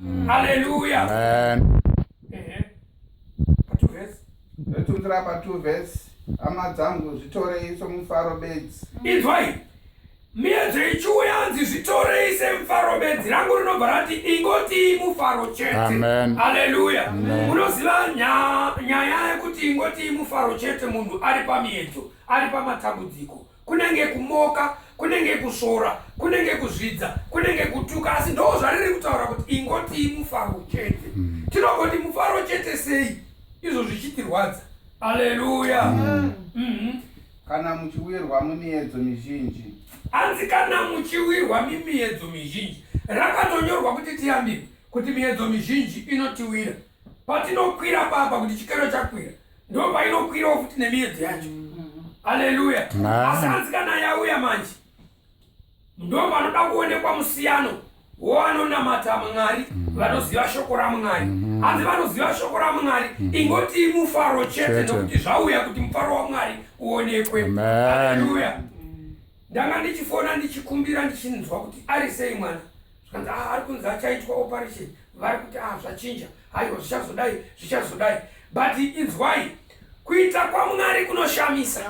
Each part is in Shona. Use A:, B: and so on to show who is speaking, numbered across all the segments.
A: Mm. Hallelujah. Amen. Ehe.
B: But
C: verse. Ndotungira pa two verse. Hama dzangu zvitorei somufaro bedzi. Inzwai.
A: Miedzo ichiuya anzi zvitorei semufaro bedzi rangu rinobva rati ingoti mufaro chete. Amen. Hallelujah. Munoziva nya- nyaya yekuti ingoti mufaro chete munhu ari pamiedzo, ari pamatambudziko. kunenge kumoka kunenge kusvora kunenge kuzvidza kunenge kutuka asi ndo zvariri kutaura kuti ingotii mufaro chete mm. tinongoti mufaro chete sei izvo zvichitirwadza aleluya mm. mm-hmm.
C: kana muchiwirwa mumiedzo mizhinji hanzi kana
A: muchiwirwa mimiedzo mizhinji rakatonyorwa kuti tiyambirwe kuti miedzo mizhinji inotiwira patinokwira papa kuti chikero chakwira ndopainokwirawo futi nemiedzo yacho haleluya mm. asi hanzi kana yauya manje ndopanoda kuonekwa musiyano woanonamata mwari mm. vanoziva shoko ramwari mm. hanzi vanoziva shoko ramwari ingoti mufaro chete nokuti zvauya kuti mufaro wamwari uonekwe haleluya ndanga ndichifona ndichikumbira ndichinzwa kuti ari sei mwana zvikanzi ah ari kunzi achaitwa operation vari kuti ah zvachinja haiwa zvichazodai zvichazodai but inzwai kuita kwamwari kunoshamisa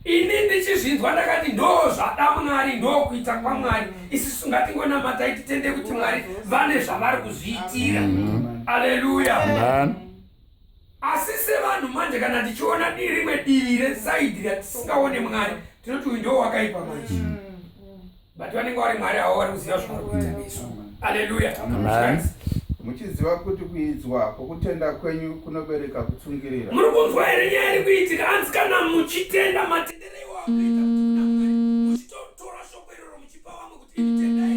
A: ini ndichizvinzwa ndakati ndo zvada mwari ndo kuita kwamwari isisu ngatingonamatai titende kuti mwari vane zvavari kuzviitira aleluya Asi sevanhu manje kana tichiona di rimwe divi resaidhi ratisingaone mwari tinoti uyu ndo wakaipa manje mm. but vanenge vari mwari avo vari kuziva zvavari kuita nesu aleluya
B: muchiziva
C: kuti kuidzwa kwokutenda kwenyu kunobereka kutsungirira muri kunzwa here nyaya
A: iri kuitika anzi kana muchitenda matendero iwakuita muchitotora shoko iroro muchipa vamwe kuti imitendai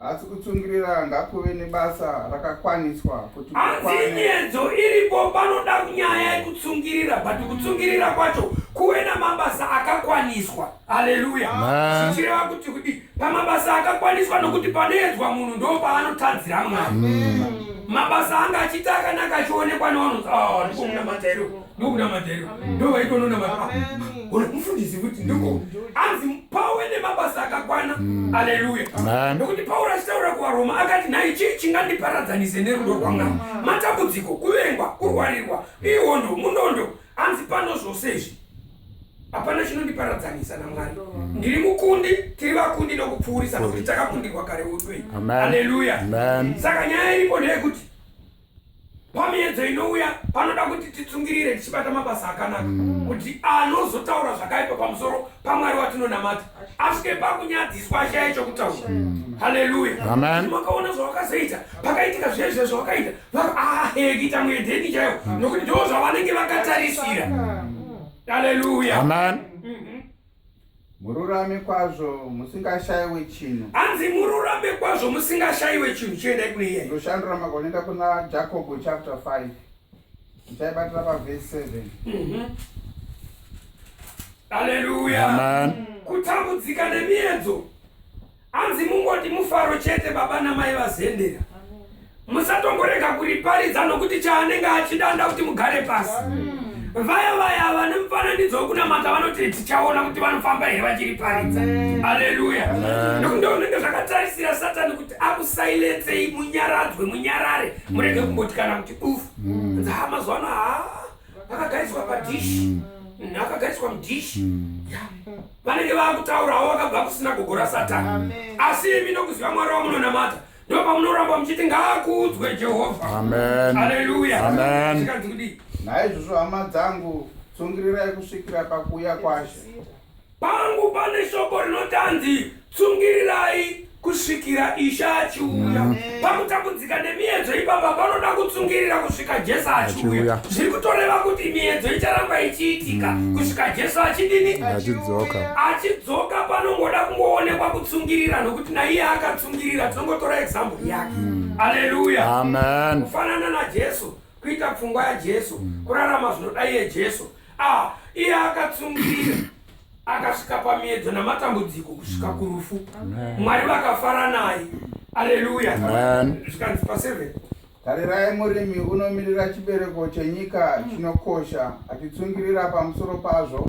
C: asi kutsungirira ngakuve nebasa rakakwaniswa kuti asi nyedzo
A: iripo panoda nyaya yekutsungirira but kutsungirira kwacho kuve namabasa akakwaniswa haleluya zvichireva kuti kudi pamabasa akakwaniswa nokuti panoedzwa munhu ndo paanotadzira mwari mabasa anga achiita akanaka achionekwa nevanhu ah, ndikomuna matairo ndokunamata iro ndovaitononamaa ona mufundisi kuti ndiko mm. anzi pawe nemabasa akakwana mm. aleluya nokuti pauro achitaura kuvaroma akati nhai chii chingandiparadzanise nerudo rwamwari matambudziko kuvengwa kurwarirwa ihondo munondo anzi pano zvose izvi hapana chinondiparadzanisa namwari mm. ndiri mukundi tiri vakundi nokupfuurisa nokuti takakundirwa kare uduei aleluya saka nyaya iripo ndeyekuti pamiedzo inouya panoda kuti titsungirire tichibata mabasa akanaka mm. kuti anozotaura zvakaipa pamusoro pamwari watinonamata asvike pakunyadziswa ashaya chokutaura mm. haleluya makaona zvawakazoita pakaitika zvezve zvawakaita vaahekita ah, muedheni chaiwo mm. nokuti ndo zvavanenge vakatarisira haleluya
C: Mururame kwazvo musingashaiwe chinhu. Hanzi mururame
A: kwazvo musingashaiwe chinhu chiendai kune iye. Ndoshandura makonenda kuna
C: Jacob chapter 5. Ndichaibatira pa verse 7. Mhm.
A: Hallelujah. Amen. Kutambudzika nemiedzo. Hanzi mungoti mufaro chete baba namai vazendera. Musatongorega kuriparidza nokuti chaanenge achidanda kuti mugare pasi. Vaya vaya vane mufananidzo wekunamata vanoti tichaona kuti vanofamba here vachiriparidza. Haleluya. Nokuti ndozvinenge zvakatarisira Satani kuti akusailetsei munyaradzwe munyarare murege kumbotikana kuti ufu. Nzaa mazuva ano haa. akagariswa padishi mm. mm, akagariswa mudishi mm. vanenge vakutaurawo vakabva kusina gogo rasatani asi imi nokuziva mwari wamunonamata ndo pamunoramba muchiti ngaakuudzwe jehovha aleluya naizvozvo hama
C: dzangu tsungirirai kusvikira pakuuya kwashe Pangu
A: pane shoko rinoti anzi tsungirirai kusvikira ishe achiuya pakutambudzika nemiedzo ipapa panoda kutsungirira kusvika jesu achiuya zviri kutoreva kuti miedzo icharamba ichiitika mm. kusvika jesu achidini achidzoka achidzoka panongoda kungoonekwa kutsungirira nokuti naiye akatsungirira tinongotora example yake mm. aleluya amen kufanana najesu kuita pfungwa yajesu mm. kurarama zvinodai yejesu Ah, iye akatsungirira akasvika pamiedzo namatambudziko kusvika mm. kurufu mwari vakafara naye aleluya zvikanzi paseven tarirai
C: murimi unomirira chibereko chenyika mm. chinokosha achitsungirira pamusoro pazvo